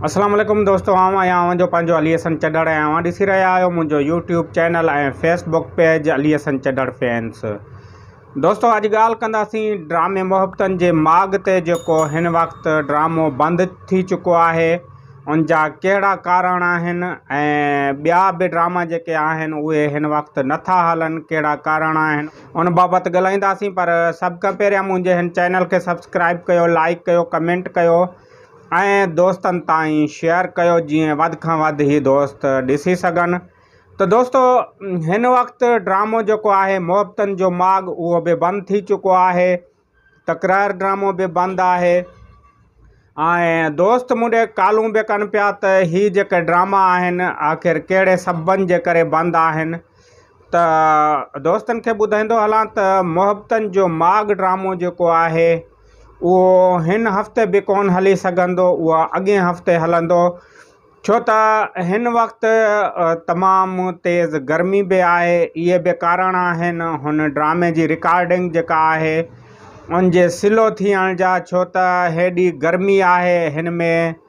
اسلام عليڪم دوستو آئون آهيان اوهان جو پنهنجو علي حسن چڏڙ ۽ اوهان ڏسي رهيا آهيو منهنجو YouTube channel ۽ Facebook page Ali Hassan Chhadar fans دوستو اڄ ڳالهه ڪنداسين ڊرامي محبتن جي ماڳ تي جيڪو هن وقت ڊرامو بند ٿي چڪو آهي ان جا ڪهڙا ڪارڻ آهن ۽ ٻيا به ڊراما جيڪي آهن اهي هن وقت نٿا هلن ڪهڙا ڪارڻ آهن ان بابت ڳالهائينداسين پر سڀ کان پهريان منهنجي هن چينل کي سبسڪرائب ڪيو لائڪ ڪيو ڪمينٽ ڪيو ۽ دوستن تائين شيئر ڪيو جيئن وڌ کان وڌ هي دوست ڏسي سگهن ته دوستو هن وقت ڊرامو جيڪو آهي محبتن جو ماڳ اهو به بند ٿي چڪو آهي تڪرار ڊرامو به بند آهي ۽ دوست مونڊي ڪالون به ڪن پيا ته هي جيڪي ڊراما آهن آخر ڪهڙي سببن جي ڪري بند آهن ته دوستن کي ٻڌائيندو هلان ته محبتن جو ماڳ ڊرامو جيڪو آهي اهو هن هفتي به ڪونه هلي سگهندو، اهو اڳئين هفتي هلندو، ڇو ته هن وقت تمام تيز گرمي به آهي، اهي به ڪارڻ آهن هن ڊرامي جي رڪارڊنگ جيڪا آهي ان جي سلو ٿيڻ جا، ڇو ته هيڏي گرمي آهي هن ۾.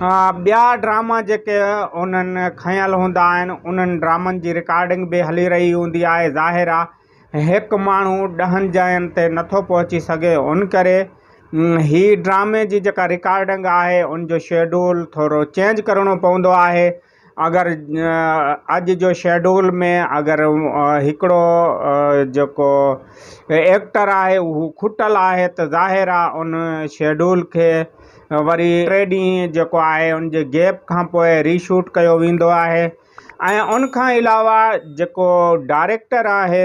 ها ٻيا ڊراما جيڪي انهن کنيل هوندا آهن انهن ڊرامن جي رڪارڊنگ به هلي رهي هوندي آهي ظاهر آهي هڪ ماڻهو ڏهن جاين تي نٿو پهچي سگهي ان ڪري هي ڊرامي جي جيڪا رڪارڊنگ آهي ان جو شيڊول ٿورو چينج ڪرڻو پوندو آهي اگر اڄ جو شيڊول ۾ اگر هڪڙو جيڪو ايڪٽر آهي اهو کٽل آهي ته ظاهر آهي ان شيڊول کي وري ٽي ڏينهن جيڪو آهي ان جي گيپ کان پوء ري شوٽ ڪيو ويندو آهي ۽ ان کان علاوه جيڪو ڊائريڪٽر آهي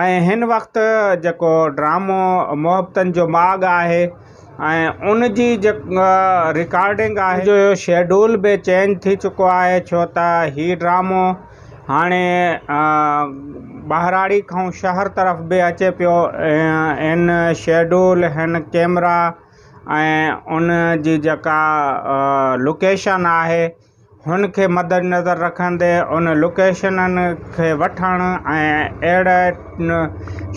۽ هن وقت جيڪو ڊرامو محبتن جو ماڳ آهي ۽ ان جي جيڪا رڪارڊنگ آهي جو شيڊول به چينج ٿي چڪو آهي ڇو ته هي ڊرامو هاڻي ٻهراڙي کان شهر طرف به اچي پيو ان شيڊول هن ڪيمرا ۽ ان جي جيڪا لوڪيشن آهي هن کي مدنظر رکندي ان لوڪيشنن کي وٺڻ ۽ اهڙي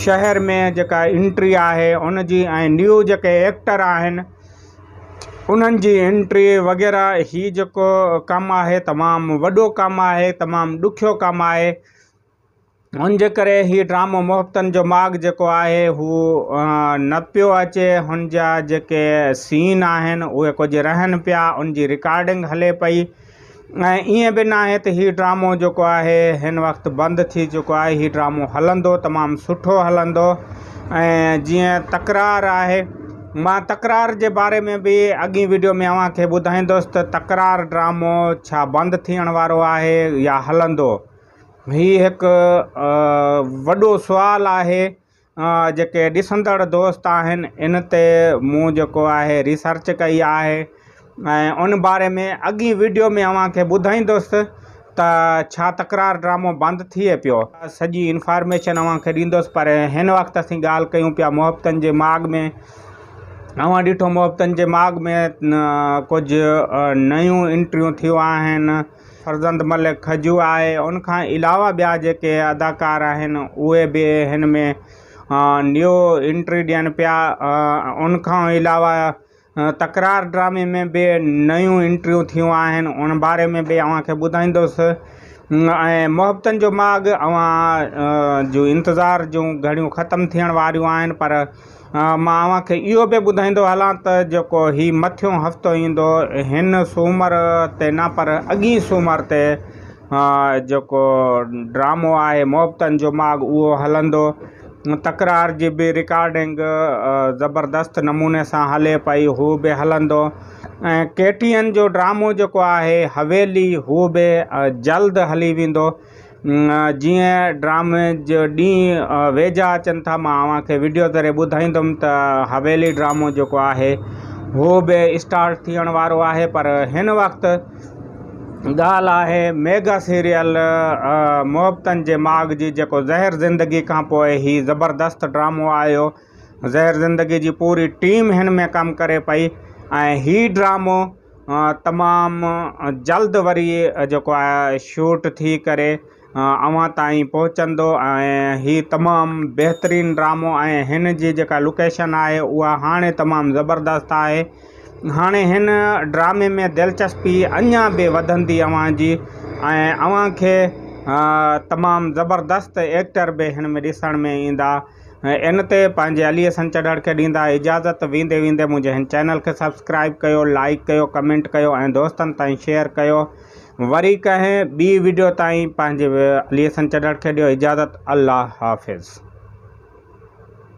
شهر ۾ جيڪا انٽري آهي ان جي ۽ نيو جيڪي ايڪٽر آهن انهن جي انٽري وغيره هي جيڪو ڪم آهي تمام وڏو ڪم آهي تمام ڏکيو ڪم آهي هن جي ڪري هي ڊرامو محبتن جو ماڳ جيڪو آهي هو نه پيو اچي هن جا جيڪي سين آهن اهي ڪجهه رهن پيا ان جي رڪارڊنگ هلي پئي ۽ ائين به ناهي ته هي ڊرامو جيڪو آهي هن وقت بند ٿي چڪو آهي هي ڊرامو هلندو تمام سٺو هلندو ۽ جيئن تڪرار آهي مان تڪرار جي باري ۾ به اڳين ويڊيو ۾ اوهان کي ٻڌائيندوس ته تڪرار ڊرامو ڇا بند ٿيڻ وارو آهي يا هلندو هي هڪ وڏو سوال آهي جيڪي ڏسندڙ دوست آهن ان تي مون جيڪو آهي ريسرچ ڪئي آهي ۽ ان باري ۾ اڳي ويڊيو ۾ اوهان کي ٻڌائيندس ته ڇا تڪرار ڊرامو بند ٿئي پيو سڄي انفارميشن اوهان کي ڏيندس پر هن وقت اسين ڳالهه ڪيون پيا محبتن جي ماڳ ۾ اوهان ڏٺو محبتن جي ماڳ ۾ ڪجهه نيون انٽريون ٿيون آهن فرزند ملڪ کجو آهي ان کان علاوه ٻيا جيڪي اداڪار آهن اهي به هن ۾ نيو انٽري ڏين پيا ان کان علاوه تڪرار ڊرامي ۾ به نيون انٽريون ٿيون آهن ان باري ۾ به اوهان کي ٻڌائيندوس ۽ محبتن جو ماڳ اوهان جو انتظار جون گهڙيون ختم ٿيڻ واريون آهن پر مان اوهان کي اهو به ٻڌائيندو هلان ته جيڪو هي مٿيون هفتو ايندو هن سومر تي نه پر اڳئين سومر تي جيڪو ڊرامو آهي محبتن جو ماڳ اهو هلندو تڪرار جي به رڪارڊنگ زبردست نموني سان هلي پئي هو به هلندو ۽ ڪيٽين جو ڊرامو جيڪو آهي حويلي هو به جلد هلي ويندو جيئن ڊرامي جا ڏينهن ويجها اچن ٿا مان اوهان کي وڊيو ذريعي ٻڌائيندم ته حويلي ڊرامو جيڪو آهي هو به اسٽارٽ ٿيڻ وارو آهي پر هن وقت ڳالهه آهي ميگا سيريل محبتن جي ماڳ جي جيڪو زهر زندگي کان پوء هي زبردست ڊرامو آيو زهر زندگي جي پوري ٽيم هن ۾ ڪم ڪري پئي ۽ هي ڊرامو تمام جلد وري جيڪو آهي شوٽ ٿي ڪري اوهان تائين پهچندو ۽ هي تمام بهترين ڊرامو ۽ هن جي جيڪا لوڪيشن آهي اها هاڻي تمام زبردست آهي هاڻي هن ڊرامي ۾ دلچسپي اڃا به وڌندي اوهان جي ۽ اوهان کي تمام زبردست ايڪٽر به هن ۾ ڏسڻ ۾ ايندا ان تي پنهنجي عليء سان چڙهڻ کي ڏيندا اجازت ويندي ويندي منهنجي هن چينل کي سبسڪرائيب ڪيو لائيڪ ڪيو ڪمينٽ ڪيو ۽ دوستن تائين شيئر ڪيو وري ڪنهن ٻي ويڊيو تائين پنهنجي عليء سان چڙهڻ کي ڏيو اجازت الله حافظ.